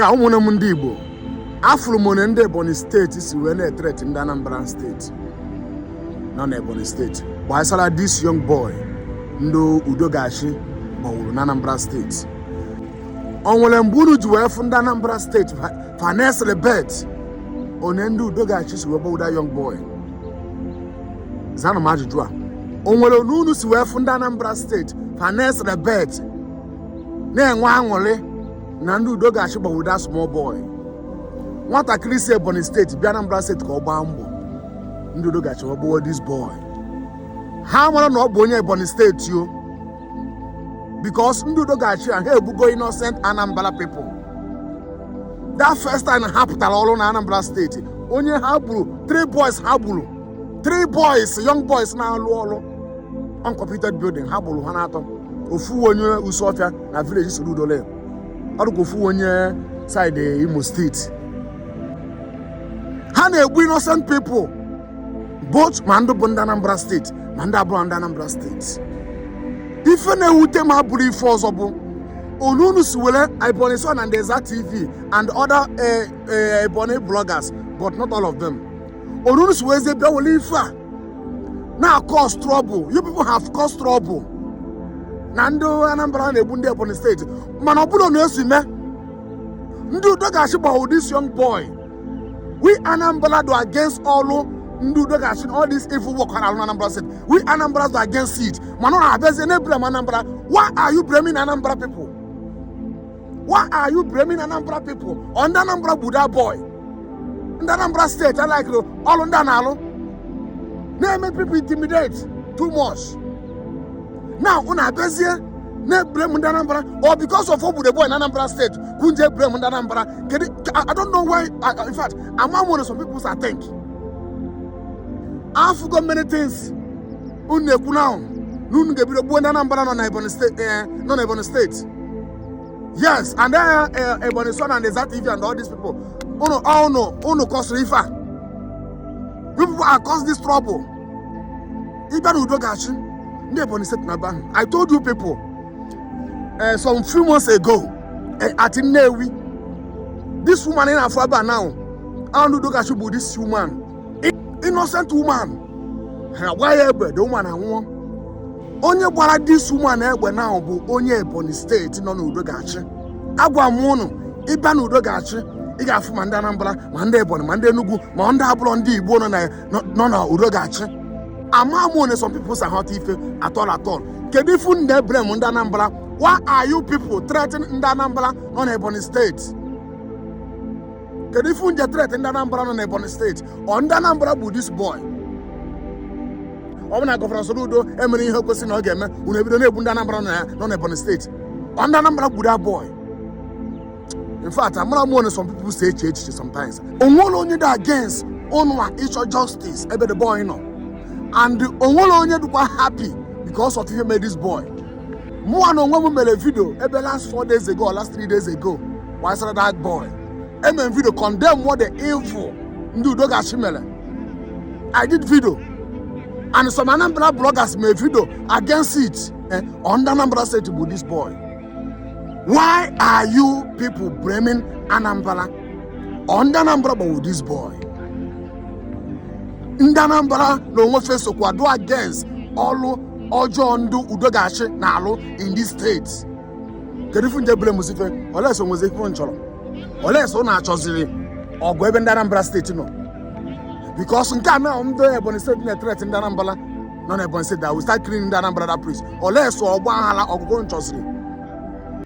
ka ụmụnne m ndị Igbo afụrụ m onu ndị Ebonyi steeti si wee na-etreti ndị Anambra steeti nọ na Ebonyi steeti gbasara this young boy ndị udo ga-achị gbawuru na Anambra steeti o nwere mgbe unu ji wee fụ ndị Anambra steeti fa na-ecelebrate onu ndị udo ga-achị si wee gbawu that young boy zanụ m ajụjụ a o nwere onu unu si wee fụ ndị Anambra steeti fa na-ecelebrate na-enwe aṅụrị na ndị udo ga-achị gbawu that small boy nwatakịrị si ebonyi steeti bịa anambra steeti ka ọ gbaa mbọ ndị udo ga-achị gbagbuo this boy ha mara na ọ bụ onye ebonyi steeti o because ndị udo ga-achị ha egbugo innocent anambra people that first time ha pụtara ọrụ na anambra steeti onye ha gburu three boys ha gburu three boys young boys na-alụ ọrụ uncompleted building ha gburu ha n'atọ ofu onye isuofia na village soludo ọ dụkwa ofu onye side imo steeti ha na-egbu innocent people both ma ndị bụ ndị anambra steeti ma ndị abụrọ ndị anambra steeti ife na-ewute m abụrọ ife ọzọ bụ onu unu si were ebonyi son and ezza tv and other eh, eh, ebonyi bloggers but not all of them onu unu si weezie bịa were ife a na-acause trouble you people have caused trouble na ndị anambra na-egbu ndị ebonyi steeti mana ọ bụrọ onu e si mee ndị udo ga-achị gbawuo this young boy we anambra dụ against ọlụ ndị udo ga-achị all this evil work ha na-alụ na anambra steeti we anambra dụ against it mana unu abịazie na-eblame anambra why are you blaming anambra people why are you blaming anambra people ọ ndị anambra gbu that boy ndị anambra steeti alikerọ ọrụ ndị a na-alụ na-eme people intimidate too much now unu abịazie na-eblame ndị anambra or because of o gbu that boy na anambra steeti ka unu ji eblame ndị anambra kedu i don't know why in fact ama m nwere some people i think afụgo many things unu na-ekwu na na unu ga-ebido gbuo ndị Anambra nọ na Ebonyi steeti eh, nọ na Ebonyi steeti yes and then eh, eh, Ebonyi son and Ezza TV and all these people unu unu unu kọsịrị ife a you people are cause this trouble even udo ga-achị ndị Ebonyi steeti na ban I told you people uh, some few months ago uh, at Nnewi this woman in Afaba now and udo ga-achị bụ this woman innocent woman ha gbaa ya egbe the woman anwụọ onye gbara this woman egbe now bụ onye ebonyi steeti nọ n'udo ga-achị agwa m ụnụ ịbịa n'udo ga-achị ị ga-afụ ma ndị anambra ma ndị ebonyi ma ndị enugu ma ndị abụrọ ndị igbo nọ na nọ na udo ga-achị ama m one some people si aghọta ife at all at all kedu ife unu ji eblame ndị anambra why are you people threatening ndị anambra nọ na ebonyi steeti kedu ife unu ji etret ndị anambra nọ n'ebonyi steeti ọ ndị anambra gburu this boy ọ bụ na gọvanọ Soludo emerọ ihe kwesịrị na ọ ga-eme unu ebido na-egbu ndị anambra nọ ya- nọ n'ebonyi steeti ọ ndị anambra gburu that boy in fact amarọ m one some people si eche echiche sometimes onwere onye dị against ụnụnwa ịchọ justice ebe the boy nọ and onwere onye dịkwa happy because of ihe mere this boy mụwa na onwe m mere video maybe last four days ago or last three days ago gbasara that boy eme m video condemn what the evil ndị udo ga-achị mere i did video and some anambra bloggers made video against it eh, ọ ndị anambra state gburu this boy why are you people blaming anambra ọ ndị anambra gburu this boy ndị anambra na onwe fa sokwa dị against ọlụ ọjọọ ndị udo ga-achị na-alụ in this state kedu ife unu ji eblamezi fa unless ọ nwezi ife unu chọrọ unless unu na-achọziri ọgụ ebe ndị Anambra steeti nọ because nke a na ndị Ebonyi steeti na-etreti ndị Anambra nọ na Ebonyi steeti that we start killing ndị Anambra that place unless ọ ọgba aghara ọgụ ka unu chọziri